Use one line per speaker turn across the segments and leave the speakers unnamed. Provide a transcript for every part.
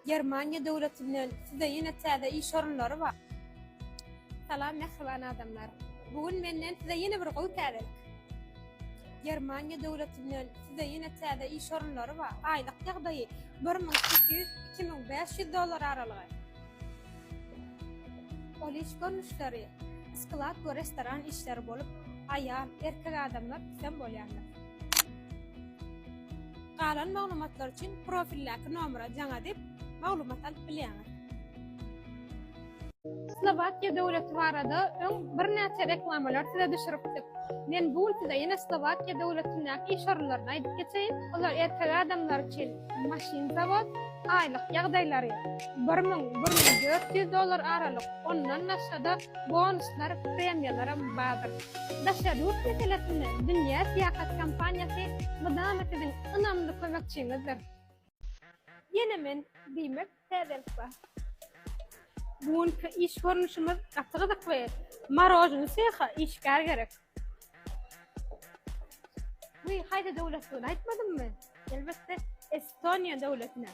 Germaniýa döwletinden size ýene täze iş orunlary bar. Salam mähriban adamlar. Bu gün menden size ýene bir gowy täzelik. Germaniýa döwletinden size ýene täze iş orunlary bar. Aýlyk ýagdaýy bir müň sekiz ýüz, iki müň bäş ýüz dollar aralygy. Ol iş görnüşleri sklad we restoran işleri bolup, aýal, erkek adamlar isem bolýarlar. Galan maglumatlar üçin profildäki nomera jaň edip, maglumat alyp bilýäňiz. Slowakiýa döwleti barada öň birnäçe reklamalar size düşüripdik. Men bu gün size ýene Slowakiýa döwletindäki iş orunlaryny aýdyp geçeýin. Olar erkek adamlar üçin maşyn zawod, aýlyk ýagdaýlary bir müň, bir müň dört ýüz dollar aralyk, ondan başga-da bonuslar, premiýalaram bardyr. Daşary ýurt meselesinde Dünýä Syýahat kompaniýasy mydama siziň ynamly kömekçiňizdir. Ýene men diýmek täzelik bar. Bu günki iş görnüşimiz gaty gyzykly. Marožny seha işgär gerek. Wiý, haýsy döwletdigini aýtmadymmy? Elbetde, Estoniýa döwletine.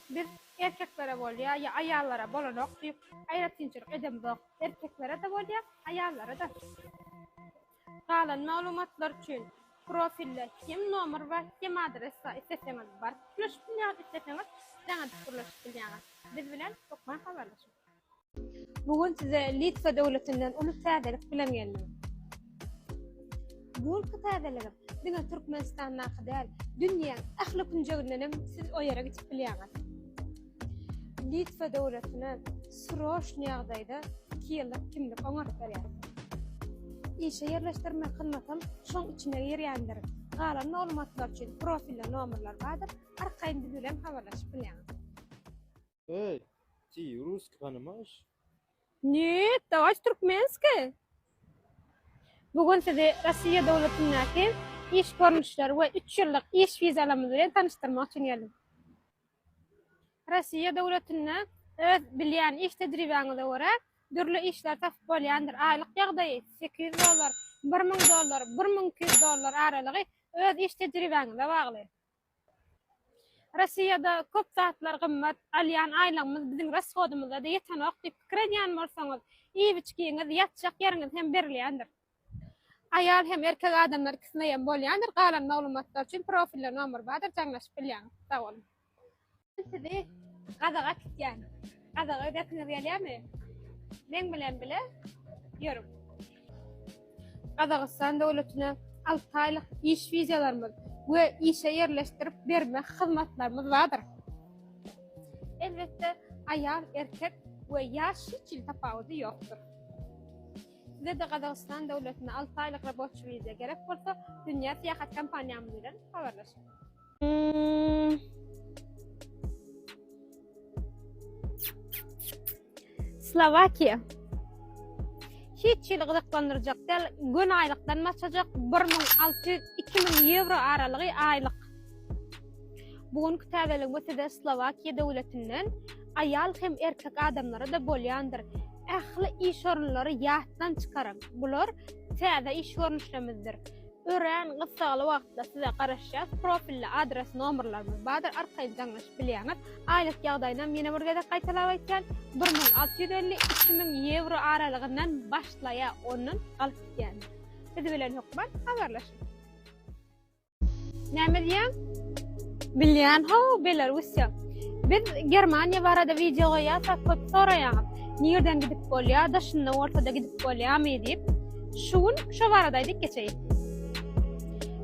Biz erkeklere bolýar ýa aýallara bolanok diýip aýratynçylyk edemzok. Erkeklere-de bolýar, aýallara-da. Galan maglumatlar üçin profilde hem nomer bar, hem adres bar. Isleseňiz baryp gürleşip bilýäňiz, isleseňiz jaň edip gürleşip bilýäňiz. Biz bilen hökman habarlaşyň. Bu gün size Litwa döwletinden uly täzelik bilen geldim. Bu günki täzeligim diňe Türkmenistandaky däl, dünýäň ähli künjegindenem siz o ýere gidip bilýäňiz. Litwa döwletine sroçny ýagdaýda iki ýyllyk kimlik oňaryp berýär. Işe ýerleşdirme hyzmatam şoň içine girýändir. Galan maglumatlar üçin profilde nomerler bardyr, arkaýyn biz bilen habarlaşyp bilýäňiz. Öý, ty russki panimaýş? Nýet, dawajy türkmenski! Bu gün sizi Rossiýa döwletindäki iş görnüşleri we üç ýyllyk iş wizalarymyz bilen tanyşdyrmak üçin geldim. Rossiýa döwletinde öz bilýän iş tejribäňize görä dürli işler tapyp bolýandyr. Aýlyk ýagdaýy sekiz ýüz dollar, bir müň dollar, bir müň iki ýüz dollar aralygy öz iş tejribäňize bagly. Rossiýada köp zatlar gymmat, alýan aýlygymyz biziň rashodymyza-da ýetenok diýip pikir edýän bolsaňyz, iýip-içgiňiz, ýatjak ýeriňiz hem berilýändir. Aýal hem erkek adamlar ikisinde hem bolýandyr galan maglumatlar üçin profilde nomer bardyr jaňlaşyp bilýäňiz sag boluň. Men sizi Gazaga kitýän. Gazaga gidesiňiz gelýämi? Meň bilen bile ýörüň. Gazagystan döwletine alty aýlyk iş wizalarymyz we işe ýerleşdirip berme hyzmatlarymyz bardyr. Elbetde aýal erkek we ýaş hiç hili tapawudy ýokdur. Sizede Gazagystan döwletine alty aýlyk raboçi wiza gerek bolsa, Dünýä Syýahat kompaniýamyz bilen habarlaşyň. Slowakiýa. Hiç hili gyzyklandyrjak däl, göni aýlykdan başlajak, bir müň alty ýüz, iki müň ýewro aralygy aýlyk. Bu günki täzelenme size Slowakiýa döwletinden Aýal hem erkek adamlara-da bolýandyr. Ähli iş orunlary ýatdan çykaryň. Bular täze iş görnüşlemizdir. Örän gyssagly wagtda size garaşýas. Profilde adres nomerlerimiz bardyr, arkaýyn jaňlaşyp bilýäňiz. Aýlyk ýagdaýynam ýene bir gezek gaýtalap aýtýan, bir müň alty ýüz elli, iki müň ýewro aralygyndan başlaýar, ondan galyp gidýändir. Biz bilen hökman habarlaşyň! Näme diýýäň? Bilýän, ho, Belarusiýa. Biz Germaniýa barada wideo goýýarsak, köp soraýaňyz. Nirden gidip bolýar, daşynda ortada gidip bolýarmy diýip. Şu gün şo barada aýdyp geçeýin.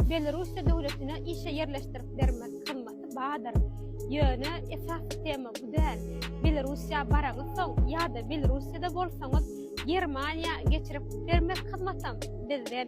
Belarusiýa döwletine işe ýerleşdirip bermek kymmaty bardyr. Ýöne esas tema bu däl. Belarusiýa baraňyz soň ýa-da Belarusiýada bolsaňyz, Germaniýa geçirip bermek kymmatam bizden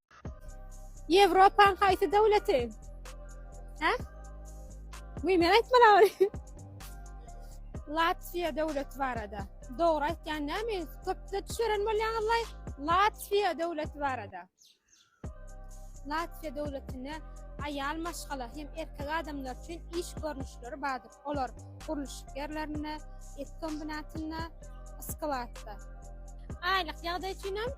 Ýewropaň haýsy döwleti? Hä? Muý men aýtmalam. Latwiýa döwleti barada. Dogry aýtýan näme? Köpde düşeren bolýaňyzlaý. Latwiýa döwleti barada. Latwiýa döwletinde aýal maşgala hem erkek adamlar üçin iş görnüşleri bardyr. Olar gurluşyk ýerlerinde, et kombinatynda, yskybatda. Aýlyk ýagdaý üçin hem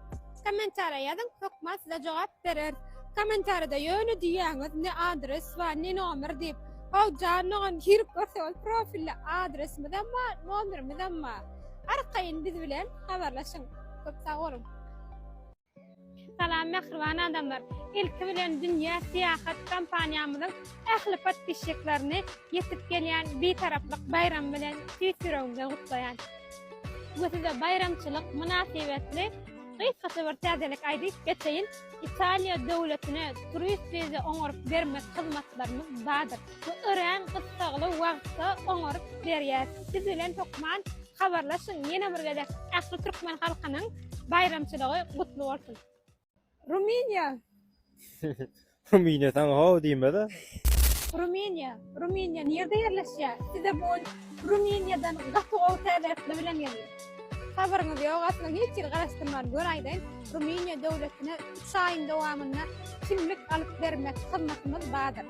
kommentariýa ýazyň, hökman size jogap berer. Kommentariýada ýöne diýýäňiz ne adres bar, ne nomer diýip. How jan mugam girip görse ol profilde adresimiz hem bar, nomerimiz hem bar. Arkaýyn biz bilen habarlaşyň. Köp sag boluň. Salam mähriban adamlar! Ilki bilen Dünýä Syýahat kompaniýamyzyň ähli podpisçiklerini ýetip gelýän Bitaraplyk baýramy bilen tüýs ýüregimden gutlaýan we size baýramçylyk mynasybetli gysgaça bir täzelik aýdyp geçeýin, Italiýa döwletine turist wiza oňaryp bermek hyzmatlarymyz bardyr. Bu örän gyssagly wagtda oňaryp berýär. Biz bilen hökman habarlaşyň! Ýene bir gezek ähli türkmen halkynyň baýramçylygy gutly bolsun! Rumyniýa! Rumyniýa saňa how diýmez-ä! Rumyniýa! Rumyniýa nirde ýerleşýär? Size bu gün Rumyniýadan gaty gowy täzeretler bilen geldik. Habaryňyz ýok aslynda hiç ýeri garaşdyrman gör aýdaýyn, Rumyniýa döwletine üç aýyň dowamynda kimlik alyp bermek hyzmatymyz bardyr.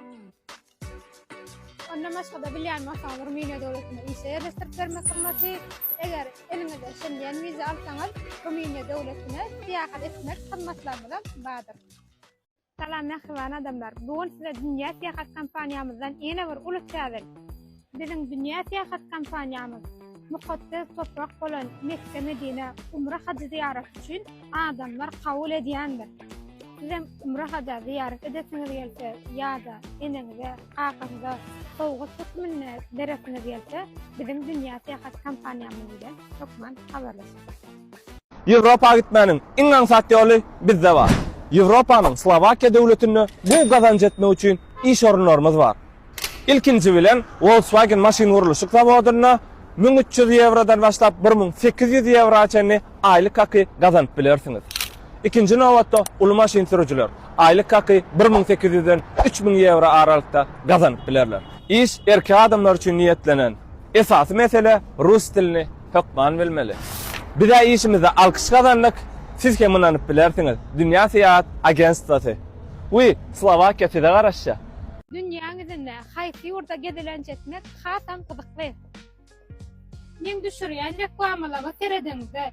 Ondan başga-da bilýän bolsaňyz, Rumyniýa döwletinde işe ýerleşdirip bermek hyzmaty. Eger eliňizde Şengen wiza alsaňyz, Rumyniýa döwletine syýahat etmek hyzmatlarymyz hem bardyr. Salam mähriban adamlar! Bu gün size Dünýä Syýahat kompaniýamyzdan ýene bir uly täze. Biziň dünýä syýahat kompaniýamyz mukaddes toprak bolan Mekge-Medinä umra hajy zyýaraty üçin adamlar kabul edýändir. Sizem umra haja zyýarat edesiňiz gelse ýa-da eneňize, kakaňyza sowgat hökmünde beresiňiz gelse, biziň dünýä syýahat kompaniýamyz bilen hökman habarlaşyň. Ýewropa gitmäniň iň aňsat ýoly bizde bar. Ýewropanyň Slowakiýa döwletinde gowy gazanç etmek üçin iş orunlarymyz bar. Ilkinji bilen Volkswagen maşyngurluşyk zawodynda müň üç ýüz ýewrodan başlap bir müň sekiz ýüz ýewroa çenli aýlyk haky gazanyp bilersiňiz. Ikinji nobatda uly maşyn sürüjiler aýlyk haky bir müň sekiz ýüzden üç müň ýewro aralykda gazanyp bilerler. Iş erkek adamlar üçin niýetlenen. Esasy mesele rus dilini. hökman bilmeli. Biz-ä işimizde alkyş gazandyk, siz hem ynanyp bilersiňiz, Dünýä Syýahat Agentstwasy. Wiý, Slowakiýa size garaşýar. Dünýäň ýüzünde haýsy ýurda gezelenç etmek hasam gyzykly? Meň düşürýän reklamalaryma serediňizde,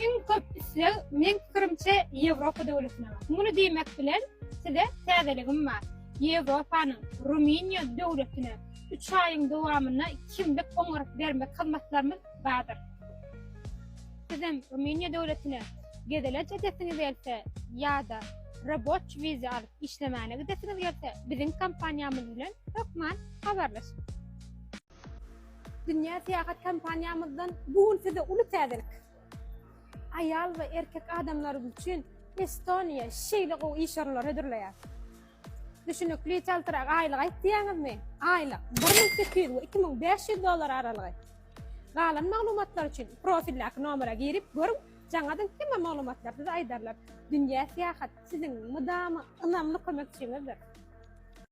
iň köp isleg, meň pikirimçe, Ýewropa döwletine bar. Muny diýmek bilen, size täzeligim bar, Ýewropanyň Rumyniýa döwletine üç aýyň dowamynda kimlik oňaryp bermek hyzmatlarymyz bardyr. Sizem Rumyniýa döwletine gezelenç edesiňiz gelse ýa-da roboç wiza alyp işlemäne gidesiňiz gelse biziň kompaniýamyz bilen hökman habarlaşyň. Dünýä syýahat kompaniýamyzdan bu gün size uly täzelik. Aýal we erkek adamlarymyz üçin Estoniýa şeýle gowy iş orunlary hödürleýär. Düşünikli çaltyrak aýlyk aýt diýýäňizmi? Aýlyk bir müň sekiz ýüz we iki müň bäş ýüz dollar aralygy. Galan maglumatlar üçin profildäki nomera girip görüň, jaňadan hemme maglumatlary size aýdarlar. Dünýä syýahat siziň mydama ynamly kömekçiňizdir.